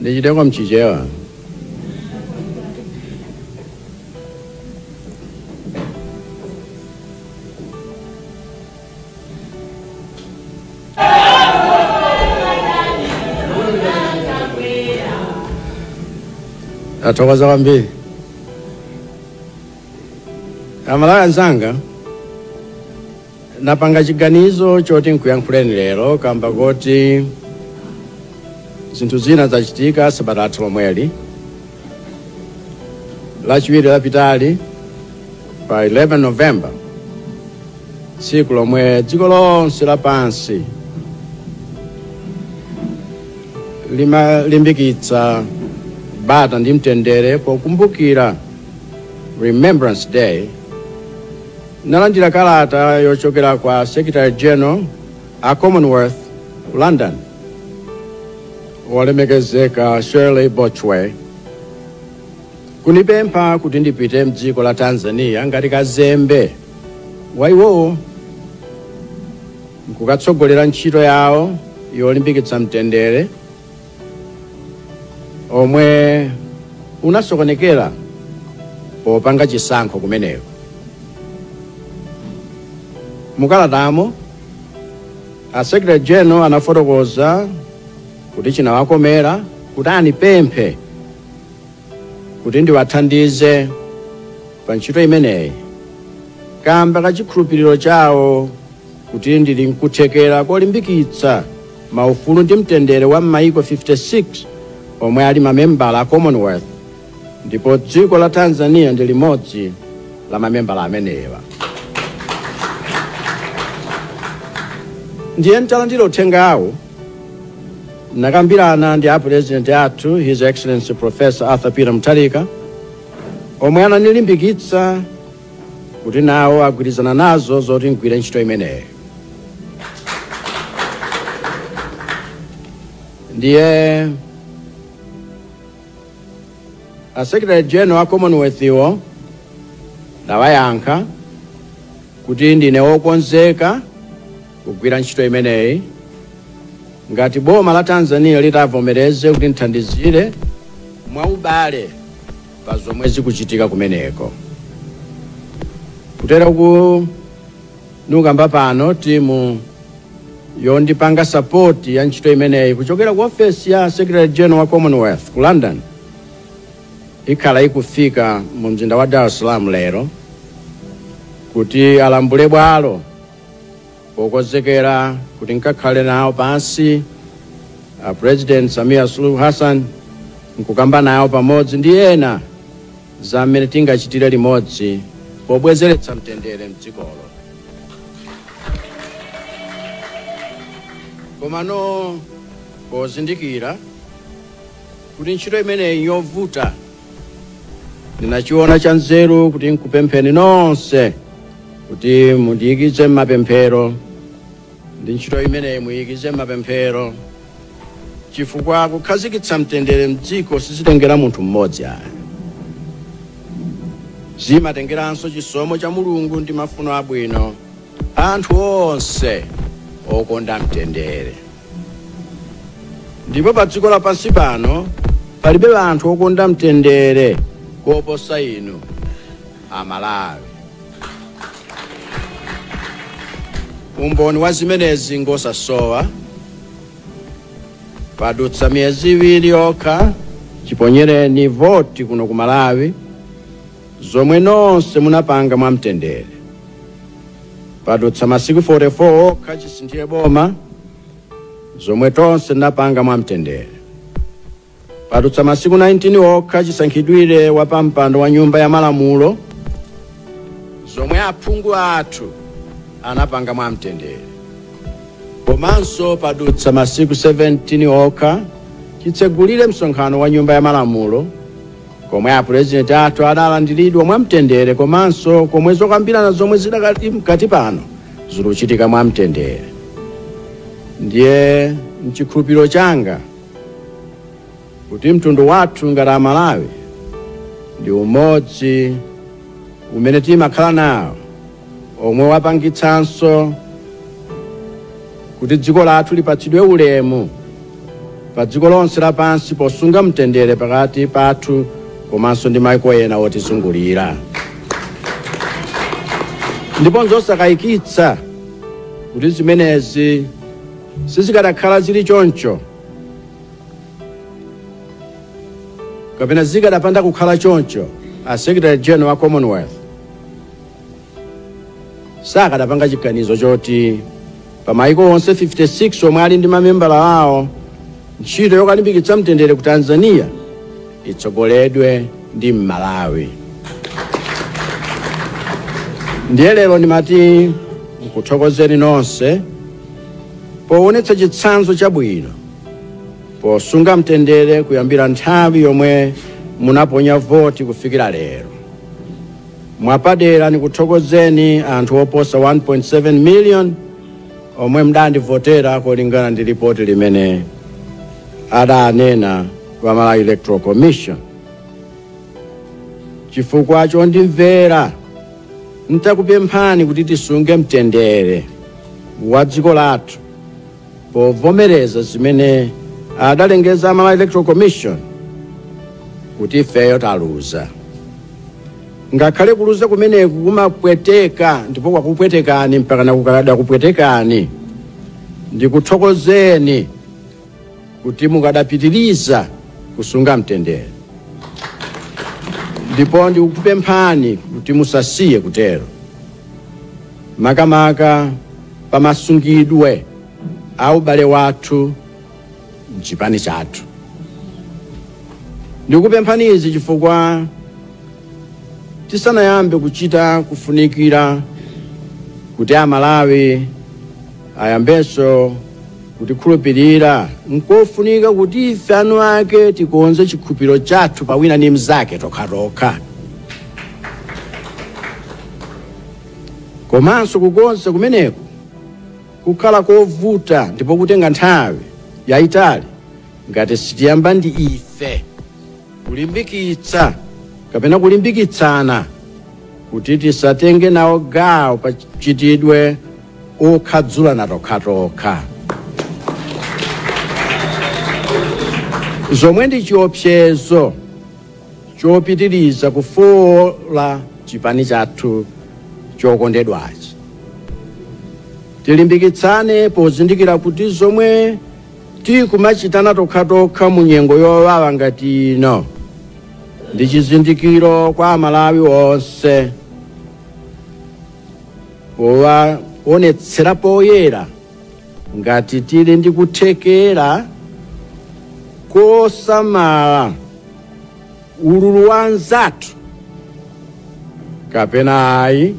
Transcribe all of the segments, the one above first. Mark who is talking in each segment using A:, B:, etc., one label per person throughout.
A: ndichite
B: kwa mchichewa ndathokoza kwambiri aMalawi anzanga napanga chiganizo choti nkuyankhuleni lero kamba koti zinthu zina zachitika sabata lathu lomweli lachiwiri lapitali pa 11 november tsiku lomwe dziko lonse lapansi limalimbikitsa bata ndi mtendere pokumbukira remembrance day Ndinalandira kalata yochokera kwa Secretary General a Commonwealth ku London, wolemekezeka Shirley Botchwey, kunipempha kuti ndipite mdziko la Tanzania ngati kazembe wa iwowo nkukatsogolera ntchito yawo yolimbikitsa mtendere omwe unasokonekera popanga chisankho kumeneko mukalatamo a secretary general anafotokoza kuti chinawakomera kuti anipemphe kuti ndiwathandize pa ntchito imeneyi kamba ka chikhulupiriro chawo kuti ndili nkuthekera kolimbikitsa maufulu ndi mtendere wa m'mayiko 56 omwe ali mamembala a commonwealth ndipo dziko la tanzania ndi limodzi la mamembala amenewa ndiye ntalandira uthengawo nakambirana ndi apurezidenti athu his excellency professor arthur peter mutharika omwe ananilimbikitsa kuti nawo agwirizana nazo zoti ngwire ntchito imeneyi ndiye a secretary general a commonwealth iwo ndawayankha kuti ndine wokonzeka kugwira ntchito imeneyi ngati boma la tanzania litavomereze kuti ndithandizire mwaubale pa zomwe zikuchitika kumeneko kutera kuno nkamba pano timu yondipanga sapoti ya ntchito imeneyi kuchokera ku ofesi ya secretary general wa commonwealth ku london ikhala ikufika mu mzinda wa dar es salaam lero kuti alambule bwalo Pokonzekera kuti nkakhale nawo pansi a President Samia Suluhu Hassan nkukamba nawo pamodzi ndi ena za mmene tingachitire limodzi pobwezeretsa mtendere mdzikolo. Komano pozindikira kuti ntchito imeneyi njovuta ndinachiona cha nzeru kuti nkupempheni nonse kuti mundiyikize m'mapemphero ndi ntchito imeneyi muyikize m'mapemphero chifukwa kukhazikitsa mtendere mdziko sizitengera munthu mmodzi ayi zimatengeranso chisomo cha mulungu ndi mafuno abwino a anthu onse okonda mtendere ndipo pa dziko lapansi pano palibe anthu okonda mtendere kuposa inu amalawi umboni wa zimenezi ngosasowa padutsa miyezi iwiri yokha chiponyereni voti kuno ku malawi zomwe nonse munapanga mwamtendere. Padutsa masiku 44 okha chisinthire boma, zomwe tonse tinapanga mwamtendere. Padutsa masiku 19 okha chisankhidwire wa pampando wa nyumba ya malamulo, zomwe aphungu athu anapanga mwamtendere. Komanso padutsa masiku 17 okha chitsegulire msonkhano wa nyumba ya malamulo, komwe apulezidenti athu adalandiridwa mwamtendere komanso komwe zokambirana zomwe zidakali mkati pano zikuchitika mwamtendere ndiye mchikhulupiriro changa kuti mtundu wathu ngati amalawi ndi umodzi umene timakhala nawo omwe wapangitsanso kuti dziko lathu lipatsidwe ulemu pa dziko lonse lapansi posunga mtendere pakati pathu komanso ndi maiko ena otizungulira ndipo nzosakayikitsa kuti zimenezi sizikanakhala zili choncho kapena zikanapanda kukhala choncho a secretary general wa commonwealth sakanapanga chiganizo choti pa maiko onse 56 omwe ali ndi mamembala awo ntchito yokalimbikitsa mtendere ku tanzania itsogoledwe ndi mmalawi ndiye lero ndimati nkuthokozeni nonse poonetsa chitsanzo chabwino posunga mtendere kuyambira nthawi yomwe munaponya voti kufikira lero Mwapadera nikuthokozeni anthu oposa 1.7 million omwe mudandivotera kulingana ndi lipoti limene adanena a Malawi Electoral Commission chifukwa chondimvera nditakupemphani kuti tisunge mtendere wa dziko lathu povomereza zimene adalengeza a Malawi Electoral Commission kuti ifeyo taluza ngakhale kuluza kumeneku kumapweteka ndipo kwakupwetekani mpakana kukadakupwetekani ndikuthokozeni kuti mukadapitiriza kusunga mtendere ndipo ndikupemphani kuti musasiye kutero makamaka pa masungidwe a ubale wathu mchipani chathu. Ndikupemphani izi chifukwa tisanayambe kuchita zofunikira kuti Amalawi ayambenso kutikhulupirira nkofunika kuti ife eni ake tikonze chikhulupiriro chathu pa wina ndi mnzake tokhatokha. Komanso kukonza kumeneku kukhala kovuta ndipo kutenga nthawi yaitali ngati sitiyamba ndi ife kulimbikitsa kapena kulimbikitsana kuti tisatenge nawo gawo pa mchitidwe okhadzulana tokhatokha zomwe ndi chiopsezo chopitiliza kufoola chipani chathu chokondedwachi. Tilimbikitsane pozindikira kuti zomwe tikumachitana tokhatokha mu nyengo yowawa ngati ino ndi chizindikiro kwa Amalawi onse powaonetsera poyera ngati tili ndi kuthekera kosamala ululu wa anzathu kapena ayi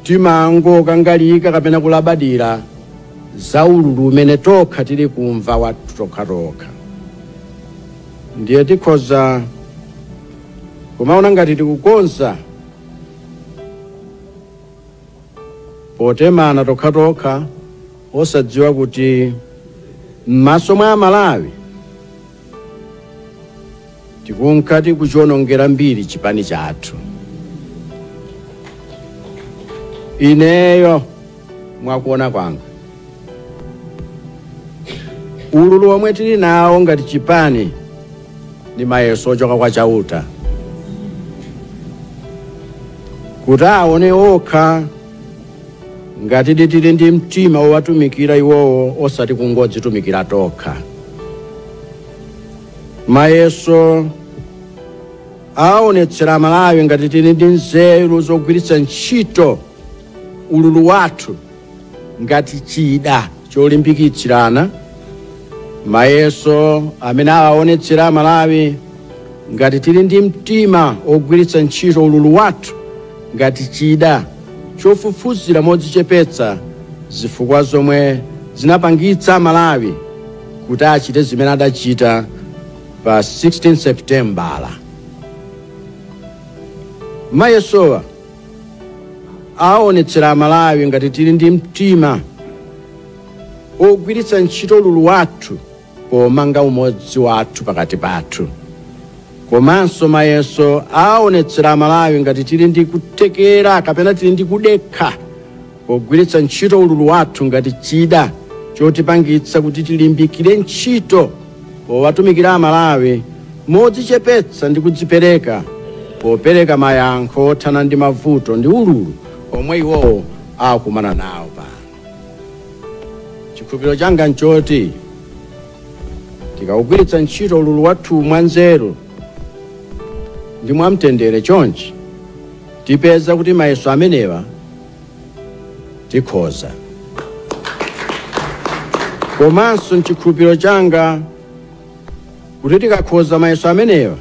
B: timangokangalika kapena kulabadira za ululu umene tokha tili kumva wathu tokhatokha ndiye tikhoza kumaona ngati tikukonza potemana tokhatokha osadziwa kuti m'maso mwa amalawi tikunka tikuchionongera mbiri chipani chathu ineyo mwakuona kwanga ululu omwe tili nawo ngati chipani ndi mayeso ochoka kwa chauta kuti aone okha ngati tili ndi mtima wowatumikira iwowo osati kungodzitumikira tokha mayeso aonetsera amalawi ngati tili ndi nzeru zogwiritsa ntchito ululu wathu ngati chida cholimbikitsirana mayeso amene awaonetsera amalawi ngati tili ndi mtima ogwiritsa ntchito ululu wathu ngati chida chofufuzira modzichepetsa zifukwa zomwe zinapangitsa amalawi kuti achite zimene adachita pa 16 seputembala mayesowa aonetsera amalawi ngati tili ndi mtima ogwiritsa ntchito ululu wathu pomanga umodzi wathu pakati pathu komanso mayeso aonetsera amalawi ngati tili ndi kuthekera kapena tili ndi kudekha pogwiritsa ntchito ululu wathu ngati chida chotipangitsa kuti tilimbikire ntchito powatumikira Amalawi modzichepetsa ndi kudzipereka popereka mayankho othana ndi mavuto ndi ululu omwe iwowo akumana nawo pano. Chikhulupiriro changa nchoti tikawugwiritsa ntchito ululu wathu mwanzeru ndi mwamtendere chonchi tipeza kuti mayeso amenewa tikhoza komanso nchikhulupiriro changa kuti tikakhoza mayeso amenewa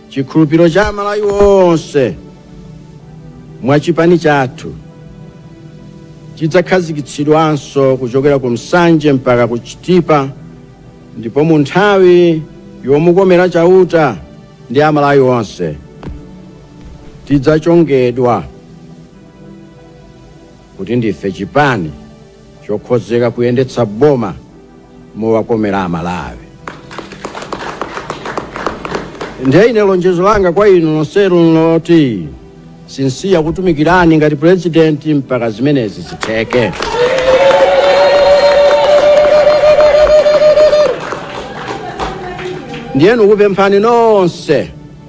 B: chikhulupiriro cha amalawi onse mwachipani chathu chidzakhazikitsidwanso kuchokera ku nsanje mpaka ku chitipa ndipo mu nthawi yomukomera chauta ndi amalawi onse tidzachongedwa kuti ndife chipani chokhozeka kuyendetsa boma mowakomera amalawi ndiye ine lonjezo langa kwa inu nonsenu nloti sinsiya kutumikirani ngati purezidenti mpaka zimenezi zitheke ndiye nkupemphani nonse